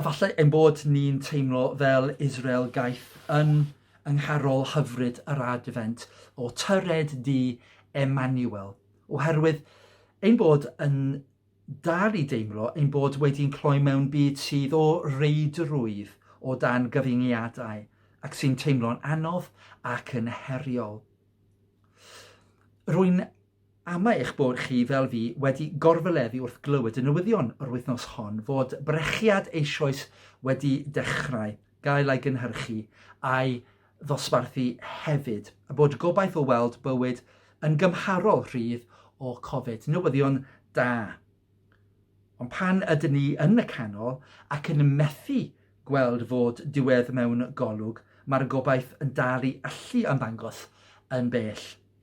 Efallai ein bod ni'n teimlo fel Israel gaeth yn yng ngharol hyfryd yr Adfent o tyred du Emmanuel, oherwydd ein bod yn dal i deimlo ein bod wedi'n cloi mewn byd sydd o reidrwydd o dan gyfyngiadau ac sy'n teimlo'n anodd ac yn heriol. Rwy'n Am eich bod chi, fel fi, wedi gorfyleddu wrth glywed y newyddion yr wythnos hon fod brechiad eisoes wedi dechrau gael ei gynhyrchu a'i ddosbarthu hefyd, a bod gobaith o weld bywyd yn gymharol rhydd o Covid. Newyddion da. Ond pan ydyn ni yn y canol ac yn methu gweld fod diwedd mewn golwg, mae'r gobaith yn dal i allu ymddangos yn bell.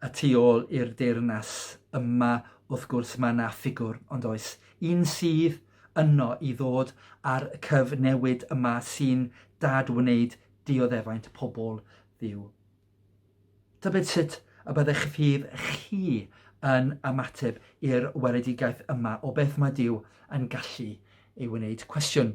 Y tu ôl i'r deyrnas yma wrth gwrs mae yna ffigwr, ond oes, un sydd yno i ddod â'r cyfnewid yma sy'n dad-wneud dioddefaint pobl Dduw. Tybed sut y byddech fydd chi yn ymateb i'r weledigaeth yma o beth mae Duw yn gallu ei wneud? Cwestiwn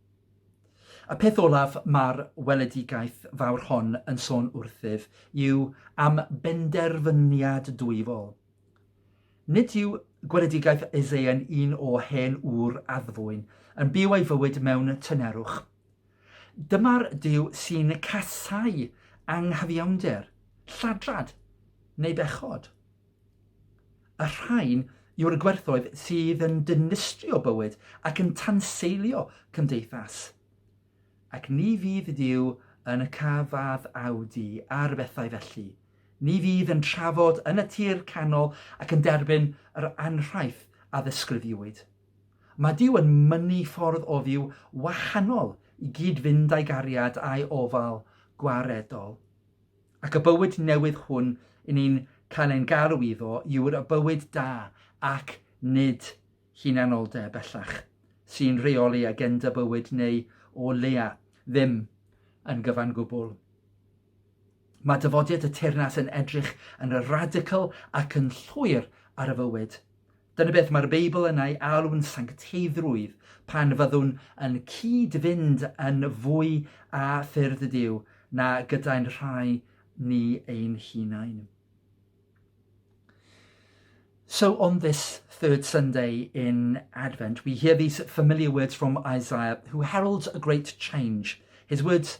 Y peth olaf mae'r weledigaeth fawr hon yn sôn wrthyf yw am benderfyniad dwyfol. Nid yw gweledigaeth Isaia'n un o hen ŵr addfwyn, yn byw ei fywyd mewn tynerwch. Dyma'r Duw sy'n casáu anghyfiawnder, lladrad neu bechod. Y rhain yw'r gwerthoedd sydd yn dinistrio bywyd ac yn tanseilio cymdeithas. Ac ni fydd Duw yn y cafad awdu ar bethau felly. Ni fydd yn trafod yn y tir canol ac yn derbyn yr anrhaith a ddisgrifiwyd. Mae Duw yn mynnu ffordd o fyw wahanol i gyd-fynd â'i gariad a'i ofal gwaredol. Ac y bywyd newydd hwn yn ni'n cael ein galw iddo yw'r y bywyd da ac nid hunanoldeb, bellach, sy'n rheoli agenda bywyd neu, o leia, ddim yn gyfan gwbl. Mae dyfodiad y teyrnas yn edrych yn radical ac yn llwyr ar y fywyd. Dyna beth mae'r Beibl yn ei alw'n sancteiddrwydd, pan fyddwn yn cyd-fynd yn fwy â ffyrdd y Dyw na gyda'n rhai ni ein hunain. So on this third Sunday in Advent, we hear these familiar words from Isaiah, who heralds a great change. His words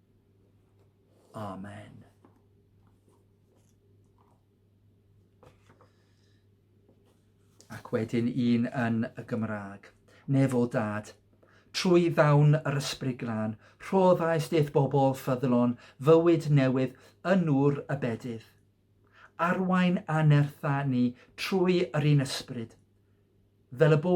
Amen. Ac wedyn un yn y Gymraeg. Nefo dad, trwy ddawn yr ysbryd glân, rhoddais deith bobl ffyddlon, fywyd newydd, yn nŵr y bedydd. Arwain anertha ni trwy yr un ysbryd, fel y bo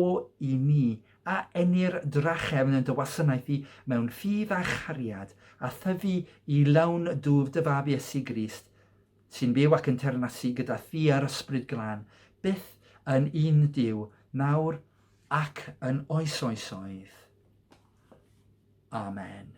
i ni a ennir drachefn yn dy wasanaeth di mewn ffydd a chariad, a thyfu i lawn dwf dy Fab Iesu Grist, sy'n byw ac yn teyrnasu gyda thi a'r Ysbryd Glân, byth yn un Duw, nawr ac yn oes oesoedd. Amen.